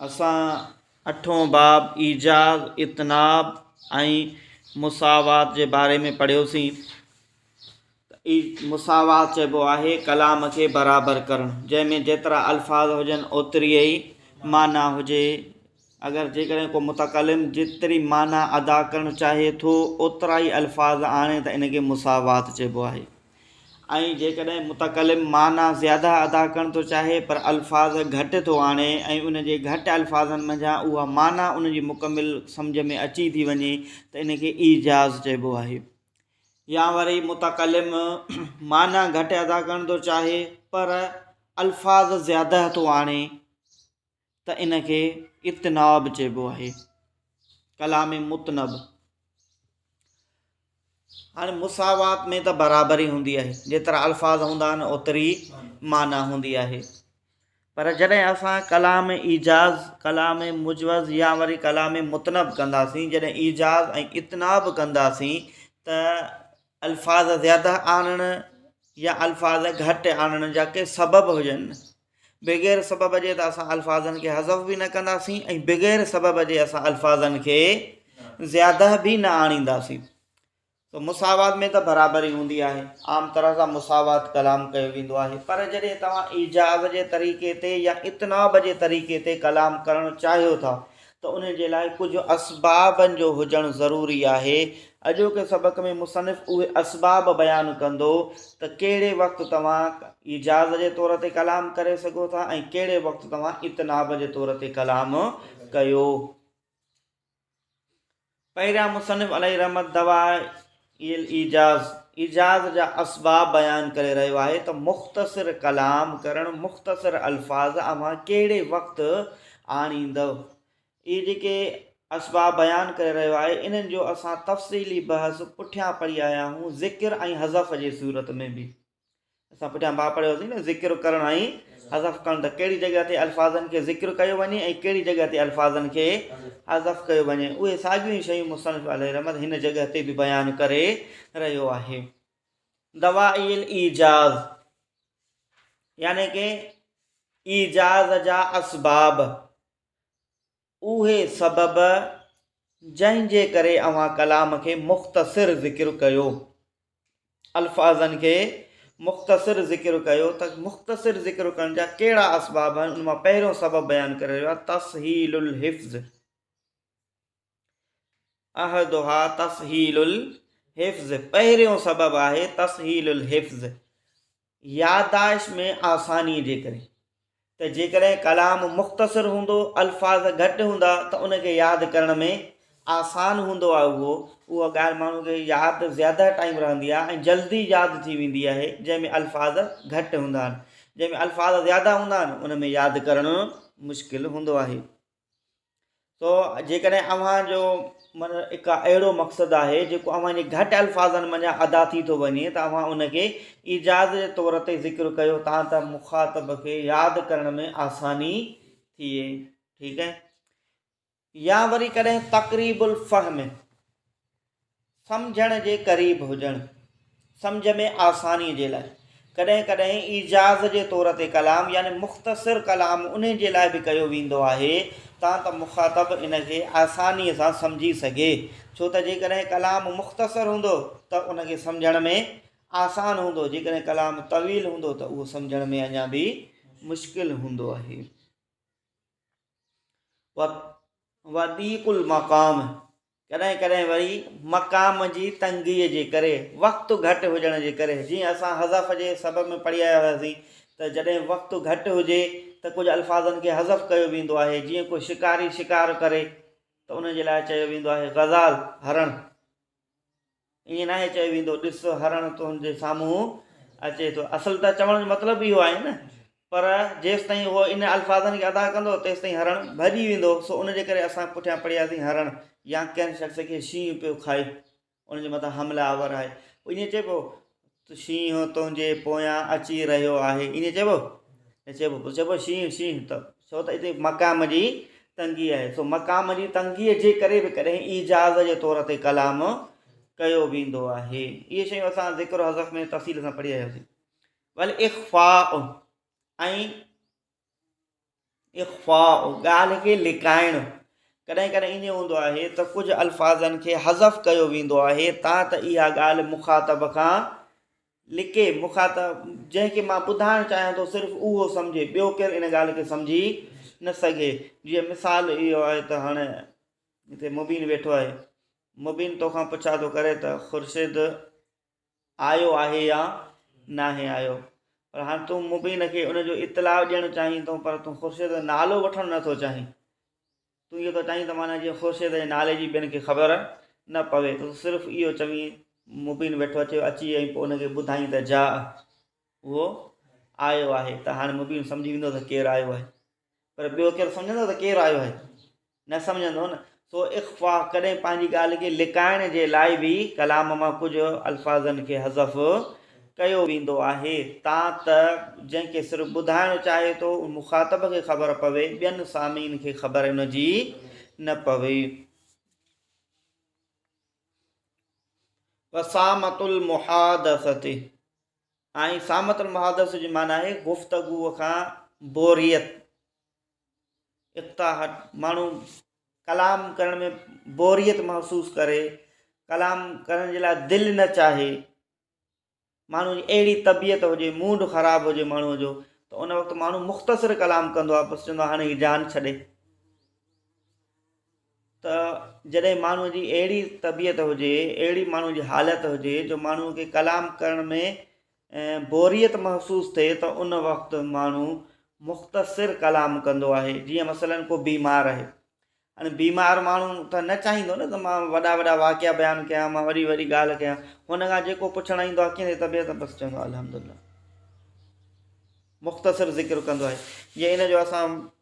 اسان اٺون باب ايجاز، اطناب ۽ مساوات جي باري ۾ پڙهيوسين. مساوات چئبو آهي ڪلام کي برابر ڪرڻ جنهن ۾ جيترا الفاظ هجن اوتري ئي معنيٰ هجي. اگر جيڪڏهن ڪو متڪلم جيتري معنيٰ ادا ڪرڻ چاهي ٿو اوترا ئي الفاظ آڻي ته ان کي مساوات چئبو آهي ۽ جيڪڏهن متڪلم معنيٰ زياده ادا ڪرڻ ٿو چاهي پر الفاظ گهٽ ٿو آڻي ۽ ان جي گهٽ الفاظن منجهان اها معنيٰ ان جي مڪمل سمجهه ۾ اچي ٿي وڃي ته ان کي ايجاز چئبو آهي يا وري متڪلم معنيٰ گهٽ ادا ڪرڻ ٿو چاهي پر الفاظ زياده ٿو آڻي ته ان کي اتناب چئبو آهي ڪلام متنب هاڻي مساوات ۾ ته برابري هوندي آهي جيترا الفاظ هوندا آهن اوتري معنی هوندي آهي پر جڏهن اسان ڪلام ايجاز ڪلام مجوز يا وري ڪلام متنب ڪنداسين جڏهن ايجاز ۽ اتناب ڪنداسين ته الفاظ زياده آڻڻ يا الفاظ گهٽ آڻڻ جا ڪي سبب هجن بغير سبب جي ته اسان الفاظن کي حذف به نه ڪنداسين ۽ بغير سبب جي اسان الفاظن کي زياده به نه آڻينداسين تو مساوات ۾ ته برابري هوندي آهي عام طرح سان مساوات ڪلام ڪيو ويندو آهي پر جڏهن توهان ايجاز جي طريقي تي يا اتناب جي طريقي تي ڪلام ڪرڻ چاهيو ٿا ته انهي جي لاء ڪجهه اسبابن جو هجڻ ضروري آهي. اڄوڪي سبق ۾ مصنف اهي اسباب بيان ڪندو ته ڪهڙي وقت توهان ايجاز جي طور تي ڪلام ڪري سگهو ٿا ۽ ڪهڙي وقت توهان اطناب جي طور تي ڪلام ڪيو. پهريان مصنف عليه رحمت دوائع الايجاز، ايجاز جا اسباب بيان ڪري رهيو آهي ته مختصر ڪلام ڪرڻ، مختصر الفاظ اوهان ڪهڙي وقت آڻيندؤ. اهي جيڪي اسباب بيان ڪري رهيو آهي، انهن جو اسان تفصيلي بحث پٺيان پڙهي آيا آهيون، ذڪر ۽ حذف جي صورت ۾ به. اسان پٺيان باب پڙهيو سين نه ذڪر ڪرڻ ۽ حذف ڪرڻ ته ڪهڙي جڳهه تي الفاظن کي ذڪر ڪيو وڃي ۽ ڪهڙي جڳهه تي الفاظن کي حذف ڪيو وڃي اهي ساڳيون ئي شيون مصنف عليه رحمت هن جڳهه تي به بيان ڪري رهيو آهي دوائي الايجاز يعني ڪي ايجاز جا اسباب اهي سبب جنهن جي ڪري اوهان ڪلام کي مختصر ذڪر ڪيو الفاظن کي مختصر ذڪر ڪيو ته مختصر ذڪر ڪرڻ جا ڪهڙا اسباب آهن ان مان پهريون سبب بيان ڪري رهيو آهي تسهيل الحفظ احدها تسهيل الحفظ، پهريون سبب آهي تسهيل الحفظ، يادداشت ۾ آسانيء جي ڪري، ته جيڪڏهن ڪلام مختصر هوندو، الفاظ گهٽ هوندا ته ان کي ياد ڪرڻ ۾ آسان هوندو آهي اهو، اها ڳالهه ماڻهو کي ياد زياده ٽائيم رهندي آهي ۽ جلدي ياد ٿي ويندي آهي جنهن ۾ الفاظ گهٽ هوندا آهن، جنهن ۾ الفاظ زياده هوندا آهن ان ۾ ياد ڪرڻ مشڪل هوندو آهي. سو جيڪڏهن اوهان جو من اڪا اهڙو مقصد آهي جيڪو اوهان جي گهٽ الفاظن منجهان ادا ٿي ٿو وڃي ته اوهان ان کي ايجاز جي طور تي ذڪر ڪيو تان ته مخاطب کي ياد ڪرڻ ۾ آساني ٿئي ٺيڪ آهي يا وري ڪڏهن تقريب الفهم سمجهڻ جي قريب هجڻ، سمجهه ۾ آسانيء جي لاء، ڪڏهن ڪڏهن ايجاز جي طور تي ڪلام يعني مختصر ڪلام انهي جي لاء به ڪيو ويندو آهي تان ته مخاطب ان کي آسانيء سان سمجهي سگهي، ڇو ته جيڪڏهن ڪلام مختصر هوندو ته ان کي سمجهڻ ۾ آسان هوندو، جيڪڏهن ڪلام طويل هوندو ته اهو سمجهڻ ۾ اڃا به مشڪل هوندو آهي. وضيق المقام. ڪڏهن ڪڏهن وري مقام جي تنگيء جي ڪري، وقت گهٽ هجڻ جي ڪري، جيئن اسان حذف جي سبب ۾ پڙهي آيا هياسين ته جڏهن وقت گهٽ هجي ته ڪجهه الفاظن کي حذف ڪيو ويندو آهي، جيئن ڪو شڪاري شڪار ڪري ته ان جي لاء چيو ويندو آهي غزال، هرڻ. ائين ناهي چيو ويندو ڏس هرڻ تنهنجي سامهون اچي ٿو اصل ته چوڻ جو مطلب اهو آهي نه پر جيستائين هو ان الفاظن کي ادا ڪندو تيستائين هرڻ ڀڄي ويندو سو ان جي ڪري اسان پٺيان پڙهياسين هرڻ يا ڪنهن شخص کي شينهن پيو کائي ان جي مٿان حمله آور آهي ائين چئبو شينهن تنهنجي پويان اچي رهيو آهي ائين چئبو چئبو چئبو شينهن شينهن ته ڇو ته اتي مقام جي تنگي آهي سو مقام جي تنگي جي ڪري به ڪڏهن ايجاز جي طور تي ڪلام ڪيو ويندو آهي اهي شيون اسان ذڪر حذف ۾ تفصيل سان پڙهي آياسين ول اخفاء ۽ اخفاء، ڳالهه کي لڪائڻ، ڪڏهن ڪڏهن ائين هوندو آهي ته ڪجهه الفاظن کي حذف ڪيو ويندو آهي تان ته اها ڳالهه مخاطب کان لڪي، مخاطب جنهن کي مان ٻڌائڻ چاهيان ٿو صرف اهو سمجهي، ٻيو ڪير ان ڳالهه کي سمجهي نه سگهي. جيئن مثال اهو آهي ته هاڻي هتي مبين ويٺو آهي، مبين توکان پڇا ٿو ڪري ته خورشيد! آيو آهي يا ناهي آيو پر هاڻ تون مبين کي ان جو اطلاع ڏيڻ چاهين ٿو پر تون خورشيد جو نالو وٺڻ نه ٿو چاهين تون اهو ٿو چاهين ته معنيٰ جيئن خورشيد جي نالي جي ٻين کي خبر نه پوي ته صرف اهو چوين مبين ويٺو اٿيو اچي ۽ پوء ان کي ٻڌائين ته جاء اهو آيو آهي ته هاڻي مبين سمجهي ويندو ته ڪير آيو آهي پر ٻيو ڪير سمجهندو ته ڪير آيو آهي؟ نه سمجهندو نه. سو اخفا، ڪڏهن پنهنجي ڳالهه کي لڪائڻ جي لاء به ڪلام مان ڪجهه الفاظن کي حذف ڪيو ويندو آهي، تان ته جنهن کي صرف ٻڌائڻ چاهي ٿو، ان مخاطب کي خبر پوي، ٻين سامعين کي خبر ان جي نه پوي. وسامة المحادثة. ۽ سامة المحادثة جي معنيٰ آهي گفتگوء کان بوريت، اقتاحت، ماڻهو ڪلام ڪرڻ ۾ بوريت محسوس ڪري، ڪلام ڪرڻ جي لاء دل نه چاهي، ماڻهو جي اهڙي طبيعت هجي، موڊ خراب هجي ماڻهوء جو ته ان وقت ماڻهو مختصر ڪلام ڪندو آهي، بس چوندو آهي هاڻي هي جان ڇڏي. ته جڏهن ماڻهوء جي اهڙي طبيعت هجي، اهڙي ماڻهوء جي حالت هجي جو ماڻهوء کي ڪلام ڪرڻ ۾ بوريت محسوس ٿئي ته ان وقت ماڻهو مختصر ڪلام ڪندو آهي جيئن مثلا ڪو بيمار آهي هاڻي بيمار ماڻهو ته نه چاهيندو نه ته مان وڏا وڏا واقعا بيان ڪيان مان وڏي وڏي ڳالهه ڪيان هن کان جيڪو پڇڻ ايندو آهي ڪيئن طبيعت بس چوندو الحمدلله مختصر ذڪر ڪندو آهي جي ان جو اسان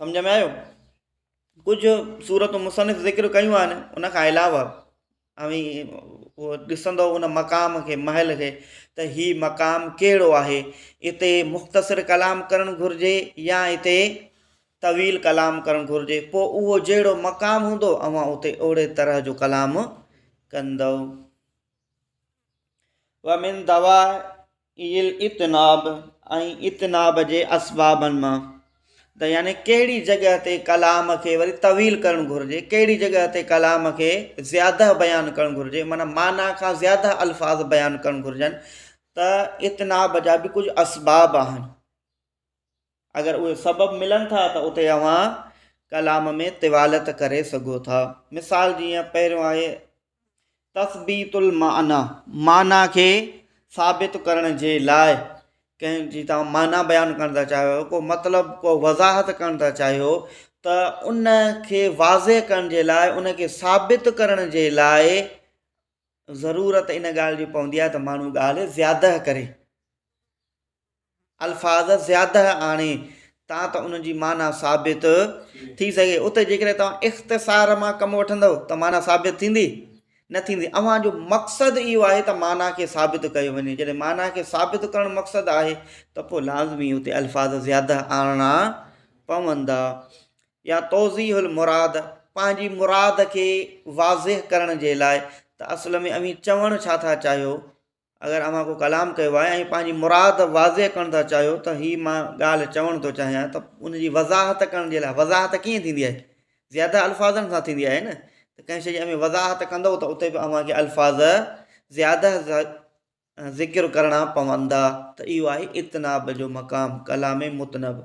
سمجهه ۾ آيو؟ ڪجهه صورتون مصنف ذڪر ڪيون آهن ان کان علاوه اوهين اهو ڏسندو ان مقام کي محل کي ته هي مقام ڪهڙو آهي اتي مختصر ڪلام ڪرڻ گهرجي يا اتي طويل ڪلام ڪرڻ گهرجي پوء اهو جهڙو مقام هوندو اوهان اتي اهڙي طرح جو ڪلام ڪندو ومن دوا الاطناب ۽ اطناب جي اسبابن مان ته يعني ڪهڙي جڳهه تي ڪلام کي وري طويل ڪرڻ گهرجي ڪهڙي جڳهه تي ڪلام کي زياده بيان ڪرڻ گهرجي معنيٰ معنيٰ کان زياده الفاظ بيان ڪرڻ گهرجن ته اطناب جا به ڪجهه اسباب آهن اگر اهي سبب ملن ٿا ته اتي اوهان ڪلام ۾ طوالت ڪري سگهو ٿا. مثال جيئن پهريون آهي تثبيت المعنيٰ، معنيٰ کي ثابت ڪرڻ جي لاء ڪنهن جي توهان معنيٰ بيان ڪرڻ ٿا چاهيو، ڪو مطلب ڪو وضاحت ڪرڻ ٿا چاهيو ته ان کي واضح ڪرڻ جي لاء ان کي ثابت ڪرڻ جي لاء ضرورت ان ڳالهه جي پوندي آهي ته ماڻهو ڳالهه زياده ڪري. الفاظ زياده آڻي تان ته انهن جي معنيٰ ثابت ٿي سگهي. اتي جيڪڏهن توهان اختصار مان ڪم وٺندؤ ته معنيٰ ثابت ٿيندي؟ نه ٿيندي. اوهان جو مقصد اهو آهي ته معنيٰ کي ثابت ڪيو وڃي. جڏهن معنيٰ کي ثابت ڪرڻ مقصد آهي ته پوء لازمي اتي الفاظ زياده آڻڻا پوندا يا توضيح المراد، پنهنجي مراد کي واضح ڪرڻ جي لاء ته اصل ۾ اوهين چوڻ ڇا ٿا چاهيو اگر اوهان ڪو ڪلام ڪيو آهي ۽ پنهنجي مراد واضح ڪرڻ ٿا چاهيو ته هي مان ڳالهه چوڻ ٿو چاهيان ته ان جي وضاحت ڪرڻ جي لاء وضاحت ڪيئن ٿيندي آهي زياده الفاظن سان ٿيندي آهي نه ته ڪنهن شيء جي اوهين وضاحت ڪندو ته اتي به اوهان کي الفاظ زياده ذڪر ڪرڻا پوندا ته اهو آهي اتناب جو مقام ڪلام متنب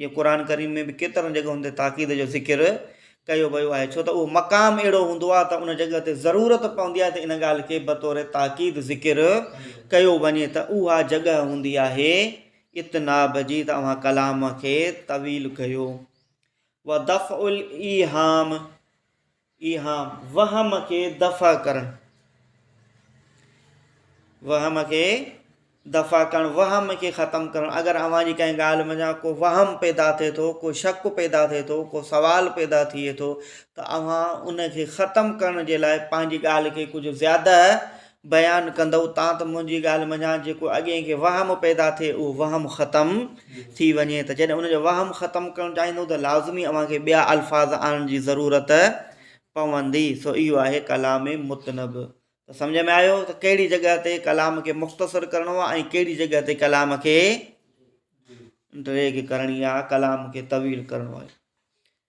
جيئن قرآن ڪريم ۾ به ڪيترن جڳهن تي تاڪيد جو ذڪر ڪيو ويو آهي ڇو ته اهو مقام اهڙو هوندو آهي ته ان جڳهه تي ضرورت پوندي آهي ته ان ڳالهه کي بطور تاڪيد ذڪر ڪيو وڃي ته اها جڳهه هوندي آهي اطناب جي ته اوهان ڪلام کي طويل ڪيو ودفع الايهام اها وهم کي دفع ڪرڻ، وهم کي دفع ڪرڻ، وهم کي ختم ڪرڻ، اگر اوهان جي ڪنهن ڳالهه منجهان ڪو وهم پيدا ٿئي ٿو، ڪو شڪ پيدا ٿئي ٿو، ڪو سوال پيدا ٿئي ٿو ته اوهان ان کي ختم ڪرڻ جي لاء پنهنجي ڳالهه کي ڪجهه زياده بيان ڪندؤ تان ته منهنجي ڳالهه منجهان جيڪو اڳئين کي وهم پيدا ٿئي اهو وهم ختم ٿي وڃي ته جڏهن ان جو وهم ختم ڪرڻ چاهيندؤ ته لازمي اوهان کي ٻيا الفاظ آڻڻ جي ضرورت پوندي سو اهو آهي ڪلام متنب ته سمجهه ۾ آيو ته ڪهڙي جڳهه تي ڪلام کي مختصر ڪرڻو آهي ۽ ڪهڙي جڳهه تي ڪلام کي ڊريگ ڪرڻي آهي ڪلام کي طويل ڪرڻو آهي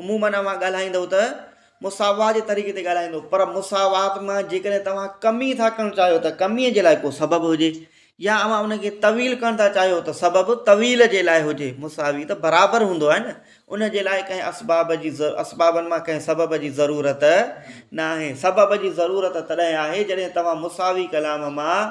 عمومن اوهان ڳالهائيندؤ ته مساوات جي طريقي تي ڳالهائيندؤ پر مساوات مان جيڪڏهن توهان ڪمي ٿا ڪرڻ چاهيو ته ڪمي جي لاء ڪو سبب هجي يا اوهان ان کي طويل ڪرڻ ٿا چاهيو ته سبب طويل جي لاء هجي مساوي ته برابر هوندو آهي نه ان جي لاء ڪنهن اسباب جي اسبابن مان ڪنهن سبب جي ضرورت ناهي سبب جي ضرورت تڏهن آهي جڏهن توهان مساوي ڪلام مان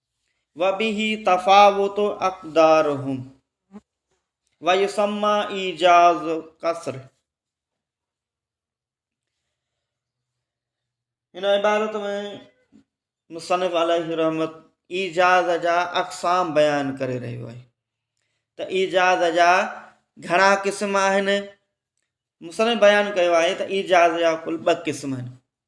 وبه تفاوت اقدارهم ويسمى ايجاز قصر هن عبارت ۾ مصنف عليه رحمت ايجاز جا اقسام بيان ڪري رهيو آهي ته ايجاز جا گهڻا قسم آهن مصنف بيان ڪيو آهي ته ايجاز جا ڪل ٻه قسم آهن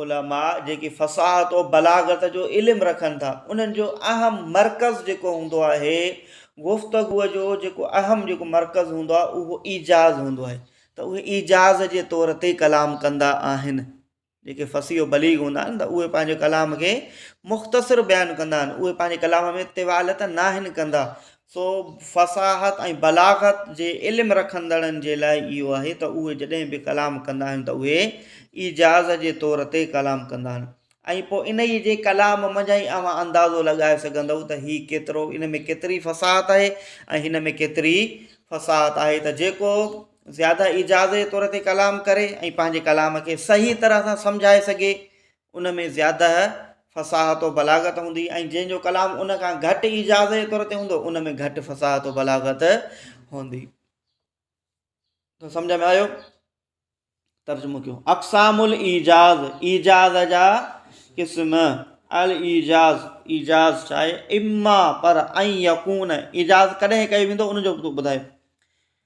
علماء جيڪي فصاحت و بلاغت جو علم رکن ٿا انهن جو اهم مرڪز جيڪو هوندو آهي گفتگوء جو جيڪو اهم جيڪو مرڪز هوندو آهي اهو ايجاز هوندو آهي ته اهي ايجاز جي طور تي ڪلام ڪندا آهن جيڪي فصيح و بليغ هوندا آهن ته اهي پنهنجي ڪلام کي مختصر بيان ڪندا آهن اهي پنهنجي ڪلام ۾ طوالت ناهن ڪندا سو فصاحت ۽ بلاغت جي علم رکندڙن جي لاء اهو آهي ته اهي جڏهن به ڪلام ڪندا آهن ته اهي ايجاز جي طور تي ڪلام ڪندا آهن ۽ پوء انهيء جي ڪلام منجهان ئي اوهان اندازو لڳائي سگهندؤ ته هي ڪيترو ان ۾ ڪيتري فصاحت آهي ۽ هن ۾ ڪيتري فصاحت آهي ته جيڪو زياده ايجاز جي طور تي ڪلام ڪري ۽ پنهنجي ڪلام کي صحيح طرح سان سمجهائي سگهي ان ۾ زياده فصاحت و بلاغت هوندي ۽ جنهن جو ڪلام ان کان گهٽ ايجاز جي طور تي هوندو ان ۾ گهٽ فصاحت و بلاغت هوندي تو سمجھ ۾ آيو ترجمو ڪيو اقسام الايجاز ايجاز جا قسم الايجاز ايجاز چاهي اما پر ۽ يقون ايجاز ڪڏهن ڪيو ويندو ان جو ٻڌايو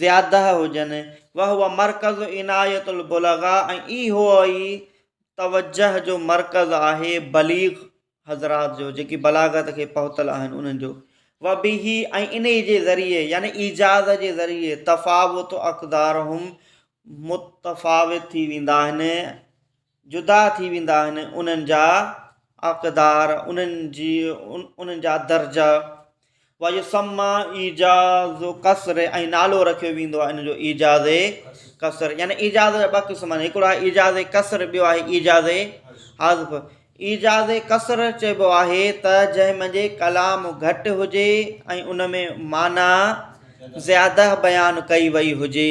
زياده هجن، وهو مرڪز عنايت البلغاء ۽ اهو ئي توجهه جو مرڪز آهي بليغ حضرات جو جيڪي بلاغت کي پهتل آهن انهن جو، وبه ۽ انهي جي ذريعي يعني ايجاز جي ذريعي تفاوت اقدارهم متفاوت ٿي ويندا آهن، جدا ٿي ويندا آهن انهن جا اقدار انهن جي انهن جا درجا ويسمّا ايجاز قصر ۽ نالو رکيو ويندو آهي ان جو ايجاز قصر يعني ايجاز جا ٻه قسم آهن هڪڙو آهي ايجاز قصر ٻيو آهي ايجاز حذف ايجاز قصر چئبو آهي ته جنهن منجهي ڪلام گهٽ هجي ۽ ان ۾ معنيٰ زياده بيان ڪئي وئي هجي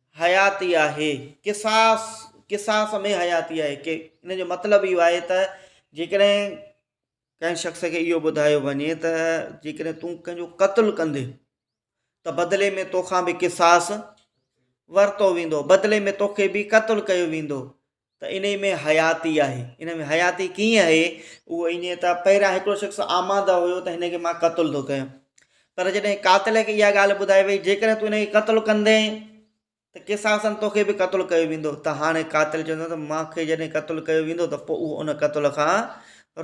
حياتي آهي، قصاص، قصاص ۾ حياتي آهي، ڪي ان جو مطلب اهو آهي ته جيڪڏهن ڪنهن شخص کي اهو ٻڌايو وڃي ته جيڪڏهن تون ڪنهن جو قتل ڪندي ته بدلي ۾ توکان به قصاص ورتو ويندو بدلي ۾ توکي به قتل ڪيو ويندو ته انهي ۾ حياتي آهي. ان ۾ حياتي ڪيئن آهي؟ اهو ائين ته پهريان هڪڙو شخص آماده هيو ته هن کي مان قتل ٿو ڪيان. پر جڏهن قاتل کي اها ڳالهه ٻڌائي وئي جيڪڏهن تون هن کي قتل ڪندين ته قصاصاً توکي به قتل ڪيو ويندو ته هاڻي قاتل چوندو ته مان کي جڏهن قتل ڪيو ويندو ته پوء اهو ان قتل کان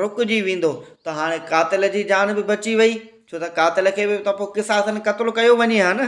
رڪجي ويندو ته هاڻي قاتل جي جان به بچي وئي ڇو ته قاتل کي به ته پوء قصاصاً قتل ڪيو وڃي ها نه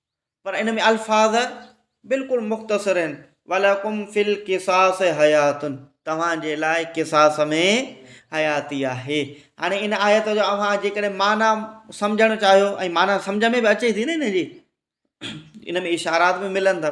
پر ان ۾ الفاظ بلڪل مختصر آهن، ولکم في القصاص حيات توهان جي لاء قصاص ۾ حياتي آهي. هاڻي ان آيت جو اوهان جيڪڏهن معنيٰ سمجهڻ چاهيو ۽ معنيٰ سمجهه ۾ به اچي ٿي نه ان جي ان ۾ اشارات به ملن ٿا.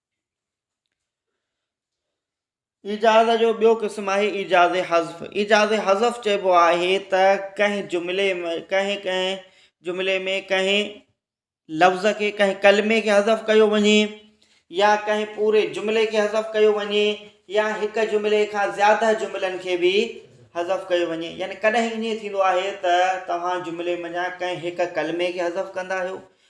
ايجاز جو ٻيو قسم آهي ايجاز حذف ايجاز حذف چئبو آهي ته ڪنهن جملي ۾ ڪنهن ڪنهن جملي ۾ ڪنهن لفظ کي ڪنهن ڪلمي کي حذف ڪيو وڃي يا ڪنهن پوري جملي کي حذف ڪيو وڃي يا هڪ جملي کان زياده جملن کي به حذف ڪيو وڃي يعني ڪڏهن ائين ٿيندو آهي ته توهان جملي منجهان ڪنهن هڪ ڪلمي کي حذف ڪندا آهيو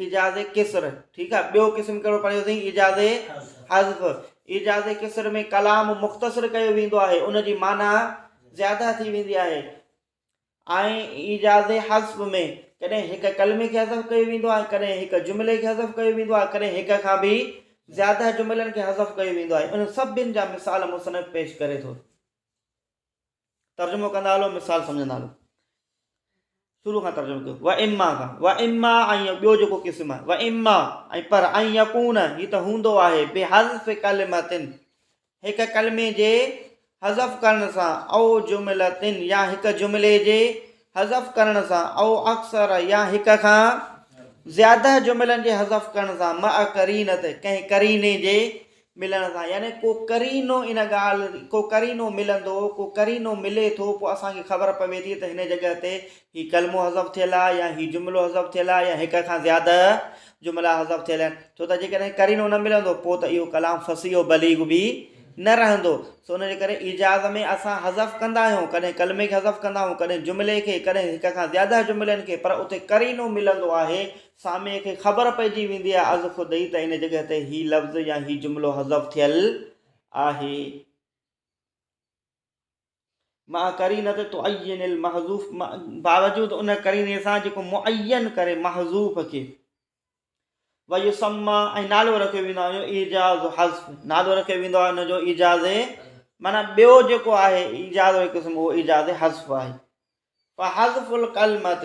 ايجاز قصر، ٺيڪ آ. ٻيو قسم ڪهڙو پڙهيو سين؟ ايجاز حذف، ايجاز قصر ۾ ڪلام مختصر ڪيو ويندو آهي، ان جي معنيٰ زياده ٿي ويندي آهي ۽ ايجاز حذف ۾ ڪڏهن هڪ ڪلمي کي حذف ڪيو ويندو آهي، ڪڏهن هڪ جملي کي حذف ڪيو ويندو آهي، ڪڏهن هڪ کان به زياده جملن کي حذف ڪيو ويندو آهي، انهن سڀن جا مثال مصنف پيش ڪري ٿو. ترجمو ڪندا هلو مثال سمجھندا هلو شروع کان ترجمو ڪيو و اما کان و اما ۽ ٻيو جيڪو قسم آهي و اما ۽ پر ۽ يقون هي ته هوندو آهي بي حذف کلمتن هڪ کلمي جي حذف ڪرڻ سان او جملتن يا هڪ جملي جي حذف ڪرڻ سان او اڪثر يا هڪ کان زياده جملن جي حذف ڪرڻ سان مع ڪرينت ڪنهن ڪريني جي ملڻ سان يعني ڪو قرينو ان ڳالهه ڪو قرينو ملندو ڪو قرينو ملي ٿو پوء اسان کي خبر پوي ٿي ته هن جڳهه تي هي ڪلمو حذف ٿيل آهي يا هي جملو حذف ٿيل آهي يا هڪ کان زياده جملا حذف ٿيل آهن ڇو ته جيڪڏهن قرينو نه ملندو پوء ته اهو ڪلام فصيح و بليغ به نه رهندو سو ان جي ڪري ايجاز ۾ اسان حذف ڪندا آهيون ڪڏهن ڪلمي کي حذف ڪندا آهيون ڪڏهن جملي کي ڪڏهن هڪ کان زياده جملن کي پر اتي قرينو ملندو آهي سامعي کي خبر پئجي ويندي آهي از خود ئي ته ان جڳهه تي هي لفظ يا هي جملو حذف ٿيل آهي. مع قرينة تعين المحذوف باوجود ان قريني سان جيڪو معين ڪري محذوف کي ويسمى ۽ نالو رکيو ويندو آهي ايجاز حذف نالو رکيو ويندو آهي ان جو ايجاز معنی ٻيو جيڪو آهي ايجاز جو قسم اهو ايجاز حذف آهي فحذف القلمه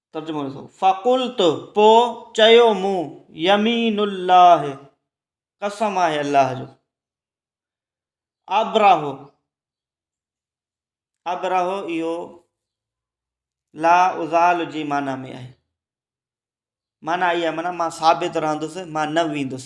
ترجمو ڏسو، فقلت، پوء چيو مون، يمين الله، قسم آهي الله جو، ابره، ابره اهو لا ازال جي معنيٰ ۾ آهي، معنيٰ اها آهي معنيٰ مان ثابت رهندس مان نه ويندس.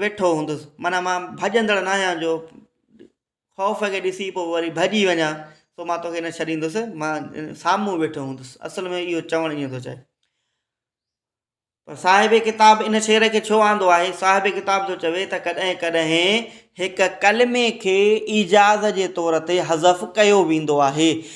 ويٺو هوندس معنيٰ مان ڀڄندڙ ناهيان جو خوف کي ڏسي پوء وري ڀڄي وڃان سو مان توکي نه ڇڏيندس مان سامهون ويٺو هوندس اصل ۾ اهو چوڻ ائين ٿو چاهي پر صاحب ڪتاب ان شعر کي ڇو آندو آهي صاحب ڪتاب ٿو چوي ته ڪڏهن ڪڏهن هڪ ڪلمي کي ايجاز جي طور تي حذف ڪيو ويندو آهي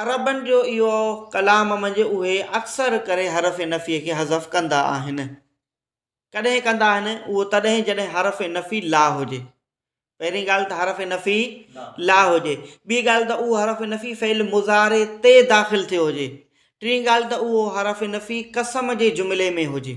عربن جو اهو ڪلام منجهه اهي اڪثر ڪري حرف نفي کي حذف ڪندا آهن. ڪڏهن ڪندا آهن اهو تڏهن جڏهن حرف نفي لا هجي. پهرين ڳالهه ته حرف نفي لا هجي. ٻي ڳالهه ته اهو حرف نفي فعل مضارع تي داخل ٿيو هجي. ٽين ڳالهه ته اهو حرف نفي قسم جي جملي ۾ هجي.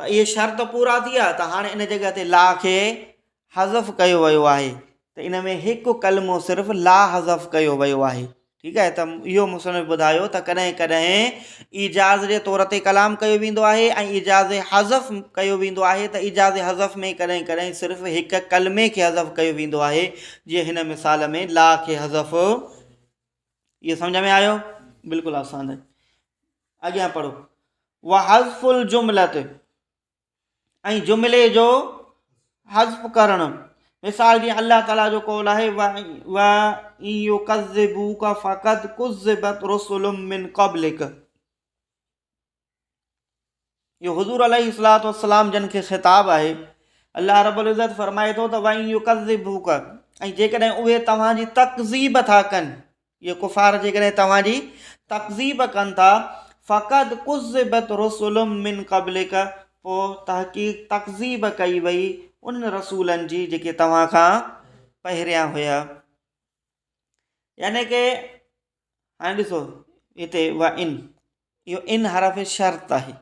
ته اهي شرط پورا ٿي ويا ته هاڻي ان جڳهه تي لا کي حذف ڪيو ويو آهي ته ان ۾ هڪ ڪلمو صرف لا حذف ڪيو ويو آهي ٺيڪ آهي ته اهو مصنف ٻڌايو ته ڪڏهن ڪڏهن ايجاز جي طور تي ڪلام ڪيو ويندو آهي ۽ ايجاز حذف ڪيو ويندو آهي ته ايجاز حذف ۾ ڪڏهن ڪڏهن صرف هڪ ڪلمي کي حذف ڪيو ويندو آهي جيئن هن مثال ۾ لا کي حذف اهو سمجھ ۾ آيو بلڪل آسان آهي اڳيان پڙهو وحذف الجملت ۽ جملي جو حذف ڪرڻ مثال جيئن الله تعالیٰ جو قول آهي فقط رسول من قبلك اهو حضور عليه الصلوة والسلام جن کي خطاب آهي الله رب العزت فرمائي ٿو ته وائن يڪذبوك ۽ جيڪڏهن اهي توهان جي تڪذيب ٿا ڪن اهي ڪفار جيڪڏهن توهان جي تڪذيب ڪن ٿا فقط قذبت رسول من قبلك پوء تحقيق تڪذيب ڪئي وئي ان رسولن جي جيڪي توهان کان پهريان هيا يعني ڪي هاڻي ڏسو هتي و ان اهو ان حرف شرط آهي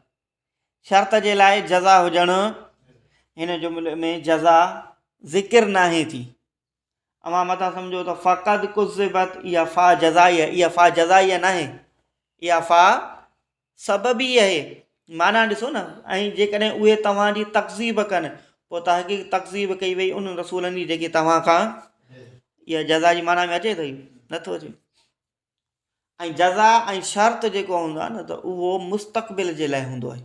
شرط جي لاء جزا هجڻ هن جملي ۾ جزا ذڪر نه آهي ٿي اوهان مٿان سمجھو ته فقط قزبت اها فا جزائي اها فا جزائي ناهي اها فا سبب ئي اهي معنيٰ ڏسو نه ۽ جيڪڏهن اهي توهان جي تڪذيب ڪن پوء تحقيق تڪذيب ڪئي وئي انهن رسولن جي جيڪي توهان کان اها جزا جي معنيٰ ۾ اچي ٿي نٿو اچي ۽ جزا ۽ شرط جيڪو هوندو آهي نه ته اهو مستقبل جي لاء هوندو آهي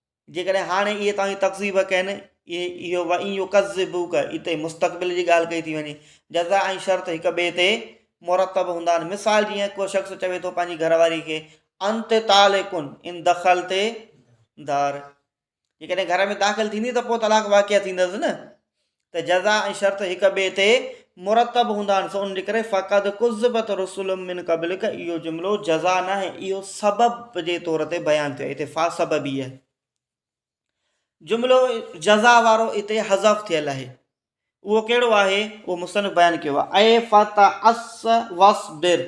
جيڪڏهن هاڻي اهي توهان جي تڪذيب ڪن، اهي اهو وئن يڪذبوک اتي مستقبل جي ڳالهه ڪئي ٿي وڃي، جزا ۽ شرط هڪ ٻئي تي مرتب هوندا آهن، مثال جيئن ڪو شخص چوي ٿو پنهنجي گهر واري کي انت طالق ان دخلت دار جيڪڏهن گهر ۾ داخل ٿيندين ته پوء طلاق واقع ٿيندس نه ته جزا ۽ شرط هڪ ٻئي تي مرتب هوندا آهن سو ان جي ڪري فقد ڪذبت رسل من قبلک اهو جملو جزا ناهي اهو سبب جي طور تي بيان ٿيو آهي هتي فا سببيه جملو جزا وارو هتي حذف ٿيل آهي اهو ڪهڙو آهي اهو مصنف بيان ڪيو آهي اي فتعص واصبر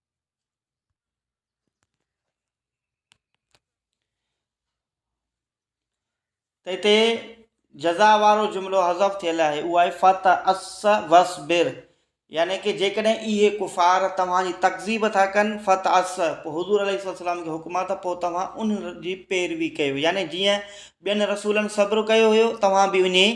ته هتي جزا وارو جملو حذف ٿيل آهي اهو آهي فت اس وس بر يعني ڪي جيڪڏهن اهي ڪفار توهان جي تڪذيب ٿا ڪن فت اس پوء حضور عليه السلام کي حڪم آهي ته پوء توهان ان جي پيروي ڪيو يعني جيئن ٻين رسولن صبر ڪيو هيو توهان به اڃي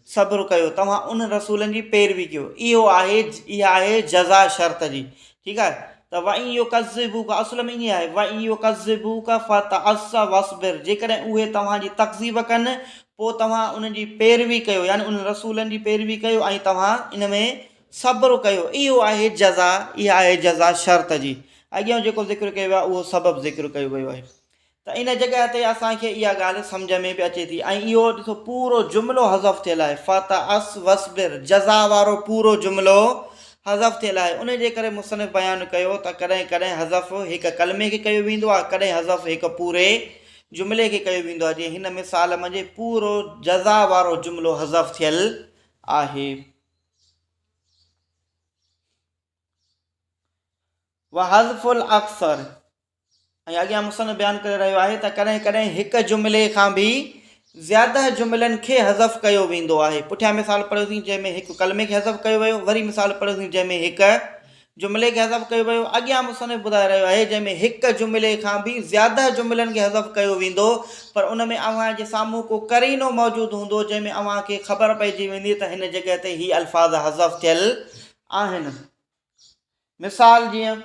صبر ڪيو توهان ان رسولن جي پيروي ڪيو اهو آهي اها آهي جزا شرط جي ٺيڪ آهي ته وئن يو ڪذبو کا اصل ۾ ائين آهي وئن يو ڪذبو کا فتعص وصبر جيڪڏهن اهي توهان جي تڪذيب ڪن پوء توهان ان جي پيروي ڪيو يعني ان رسولن جي پيروي ڪيو ۽ توهان ان ۾ صبر ڪيو اهو آهي جزا اها آهي جزا شرط جي اڳيئون جيڪو ذڪر ڪيو ويو آهي اهو سبب ذڪر ڪيو ويو آهي ته ان جڳهه تي اسان کي اها ڳالهه سمجهه ۾ به اچي ٿي ۽ اهو ڏسو پورو جملو حذف ٿيل آهي فتعص واصبر جزا وارو پورو جملو حذف ٿيل آهي ان جي ڪري مصنف بيان ڪيو ته ڪڏهن ڪڏهن حذف هڪ ڪلمي کي ڪيو ويندو آهي ڪڏهن حذف هڪ پوري جملي کي ڪيو ويندو آهي جيئن هن مثال منجهه پورو جزا وارو جملو حذف ٿيل آهي وحذف الاقصر ۽ اڳيان مصنف بيان ڪري رهيو آهي ته ڪڏهن ڪڏهن هڪ جملي کان به زياده جملن کي حذف ڪيو ويندو آهي پٺيان مثال پڙهيوسين جنهن ۾ هڪ ڪلمي کي حذف ڪيو ويو وري مثال پڙهيوسين جنهن ۾ هڪ جملي کي حذف ڪيو ويو اڳيان مصنف ٻڌائي رهيو آهي جنهن ۾ هڪ جملي کان به زياده جملن کي حذف ڪيو ويندو پر ان ۾ اوهان جي سامهون ڪو قرينو موجود هوندو جنهن ۾ اوهان کي خبر پئجي ويندي ته هن جڳهه تي هي الفاظ حذف ٿيل آهن مثال جيئن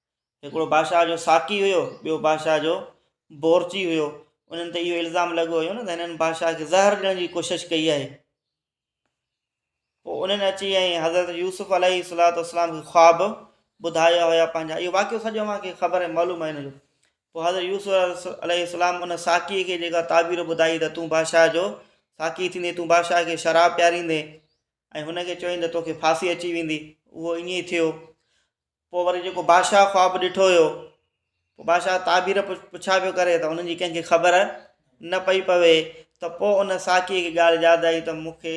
هڪڙو بادشاهه جو ساقي هيو ٻيو بادشاهه جو بورچي هيو انهن تي اهو الزام لڳو هيو نه ته هنن بادشاهه کي زهر ڏيڻ جي ڪوشش ڪئي آهي پوء انهن اچي ۽ حضرت يوسف عليه الصلاة والسلام کي خواب ٻڌايا هيا پنهنجا اهو واقعو سڄو اوهان کي خبر ۽ معلوم آهي هن جو پوء حضرت يوسف عليه السلام ان ساقي کي جيڪا تعبير ٻڌائي ته تون بادشاهه جو ساقي ٿيندي تون بادشاهه کي شراب پياريندي ۽ هن کي چوين ته توکي ڦاسي اچي ويندي اهو ائين ئي ٿيو پوء وري جيڪو بادشاهه خواب ڏٺو هيو، پوء بادشاهه تعبير پڇا پيو ڪري ته ان جي ڪنهن کي خبر نه پئي پوي ته پوء ان ساقيء کي ڳالهه ياد آئي ته مون کي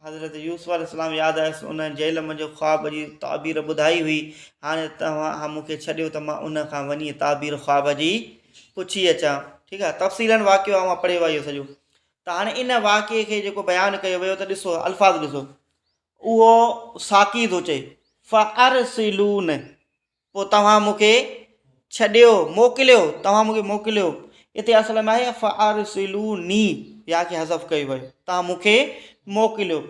حضرت يوسف عليه السلام ياد آيس ان جيل منجهه خواب جي تعبير ٻڌائي هئي هاڻي توهان مون کي ڇڏيو ته مان ان کان وڃي تعبير خواب جي پڇي اچان ٺيڪ آهي تفصيلاً واقعو اوهان پڙهيو آهي اهو سڄو ته هاڻي ان واقعي کي جيڪو بيان ڪيو ويو ته ڏسو الفاظ ڏسو اهو ساقي ٿو چئي، فارسلون، پوء توهان مون کي ڇڏيو، موڪليو، توهان مون کي موڪليو. اتي اصل ۾ آهي فارسلوني، يا کي حذف ڪيو ويو، توهان مون کي موڪليو.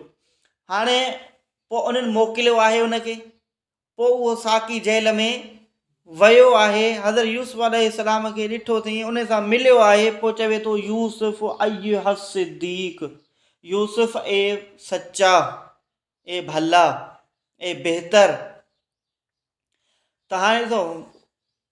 هاڻي پوء انهن موڪليو آهي ان کي، پوء اهو ساقي جيل ۾ ويو آهي حضرت يوسف عليه السلام کي ڏٺو اٿئين ان سان مليو آهي پوء چوي ٿو يوسف ايها الصديق يوسف اي سچا اي ڀلا اي بهتر تهان ڏسو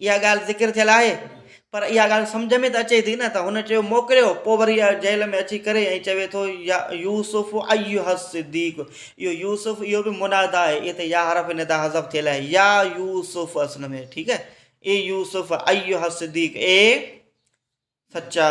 اها ڳالهه ذڪر ٿيل آهي پر اها ڳالهه سمجهه ۾ ته اچي ٿي نه ته هن چيو موڪليو پوء وري جيل ۾ اچي ڪري ۽ چوي ٿو يا يوسف ايها الصديق اهو يوسف اهو به منادا آهي اتي يا حرف ندا حذف ٿيل آهي يا يوسف اصل ۾ ٺيڪ آهي اي يوسف ايها الصديق اي سچا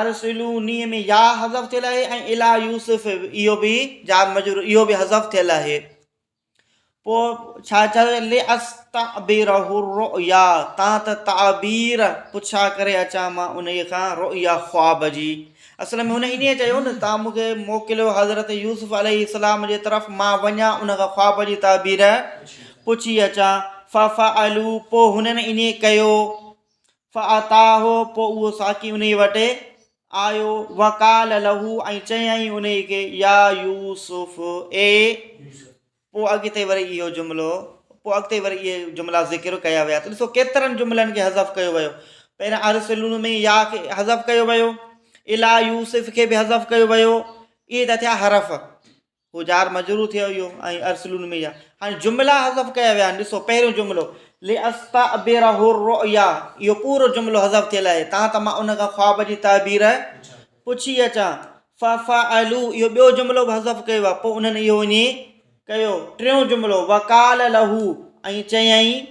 ارسلو ني ۾ ياء حذف ٿيل آهي ۽ الى يوسف اهو به جار مجرور اهو به حذف ٿيل آهي پو ڇا چا لاستعبره الرؤيا تان ته تعبير پڇا ڪري اچان مان انهي کان رؤيا خواب جي اصل ۾ هن انهي چيو نه تان مون کي موڪليو حضرت يوسف عليه السلام جي طرف مان وڃان ان کان خواب جي تعبير پڇي اچان ففعلوا پو هنن انهي ڪيو فاتاه پوء اهو ساقي انهي وٽ آيو وقال له ۽ چيائين انهي کي يا يوسف اي پوء اڳتي وري اهو جملو پوء اڳتي وري اهي جملا ذڪر ڪيا ويا ته ڏسو ڪيترن جملن کي حذف ڪيو ويو پهريان ارسلون ۾ يا کي حذف ڪيو ويو الا يوسف کي به حذف ڪيو ويو اهي ته ٿيا حرف هو جار مجرور ٿيو اهو ۽ ارسلون ۾ يا هاڻي جملا حذف ڪيا ويا آهن ڏسو پهريون جملو لاستعبره الرؤيا اهو پورو جملو حذف ٿيل آهي تان ته مان ان کان خواب جي تعبير پڇي اچان ففعلوا اهو ٻيو جملو به حذف ڪيو آهي پوء انهن اهو ائين ڪيو ٽيون جملو وقال له ۽ چيائين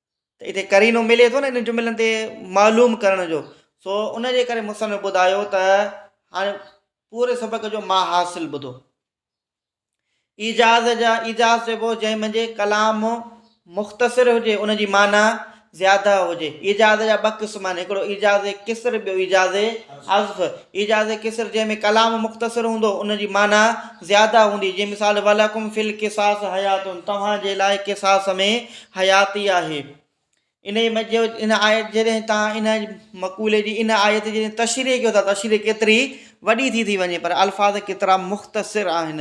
ته اتي قرينو ملي ٿو نه انهن جملن تي معلوم ڪرڻ جو سو ان جي ڪري مصنف ٻڌايو ته هاڻي پوري سبق جو ما حاصل ٻڌو ايجاز جا ايجاز چئبو جنهن منجهي ڪلام مختصر هجي ان جي معنی زياده هجي ايجاز جا ٻه قسم آهن هڪڙو ايجاز قصر ٻيو ايجاز عزف ايجاز قصر جنهن ۾ ڪلام مختصر هوندو ان جي معنی زياده هوندي جي مثال ولکم فل قصاص حياتن توهان جي لاء قصاص ۾ حياتي آهي. انهيء ۾ جو ان آيت جڏهن تان ان مقولي جي ان آيت جي تشريح ڪيو ٿا تشريح ڪيتري وڏي ٿي ٿي وڃي پر الفاظ ڪيترا مختصر آهن.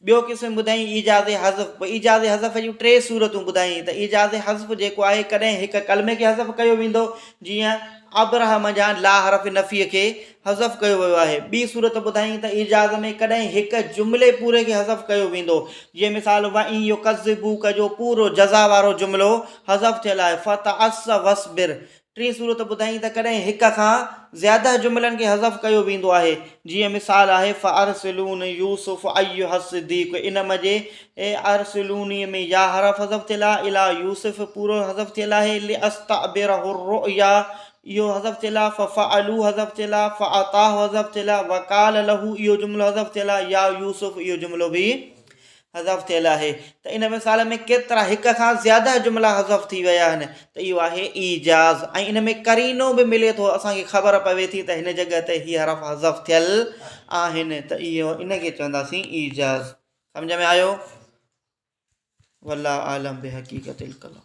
ٻيو قسم ٻڌائين ايجاز حذف پوء ايجاز حذف جون ٽي صورتون ٻڌائين ته ايجاز حذف جيڪو آهي ڪڏهن هڪ ڪلمي کي حذف ڪيو ويندو جيئن ابرهه منجهان لا حرف نفيء کي حذف ڪيو ويو آهي. ٻي صورت ٻڌائين ته ايجاز ۾ ڪڏهن هڪ جملي پوري کي حذف ڪيو ويندو، جيئن مثال وان يڪذبوک جو پورو جزا وارو جملو حذف ٿيل آهي فتعس واصبر. ٽين صورت ٻڌائين ته ڪڏهن هڪ کان زياده جملن کي حذف ڪيو ويندو آهي، جيئن مثال آهي فارسلون يوسف ايها الصديق ان م جي ارسلوني ۾ يا حرف حذف ٿيل آهي اليا يوسف پورو حذف ٿيل آهي لاستعبره الرؤيا اهو حذف ٿيل آهي، ففعلوه حذف ٿيل آهي، فاعطاه حذف ٿيل آهي، وقال له اهو جملو حذف ٿيل آهي، يا يوسف اهو جملو به حذف ٿيل آهي. ته ان مثال ۾ ڪيترا هڪ کان زياده جملا حذف ٿي ويا آهن ته اهو آهي ايجاز ۽ ان ۾ قرينو به ملي ٿو اسان کي خبر پوي ٿي ته هن جڳهه تي هي حرف حذف ٿيل آهن ته اهو ان کي چونداسين ايجاز سمجهه ۾ آيو والله اعلم بحقيقت الڪلام.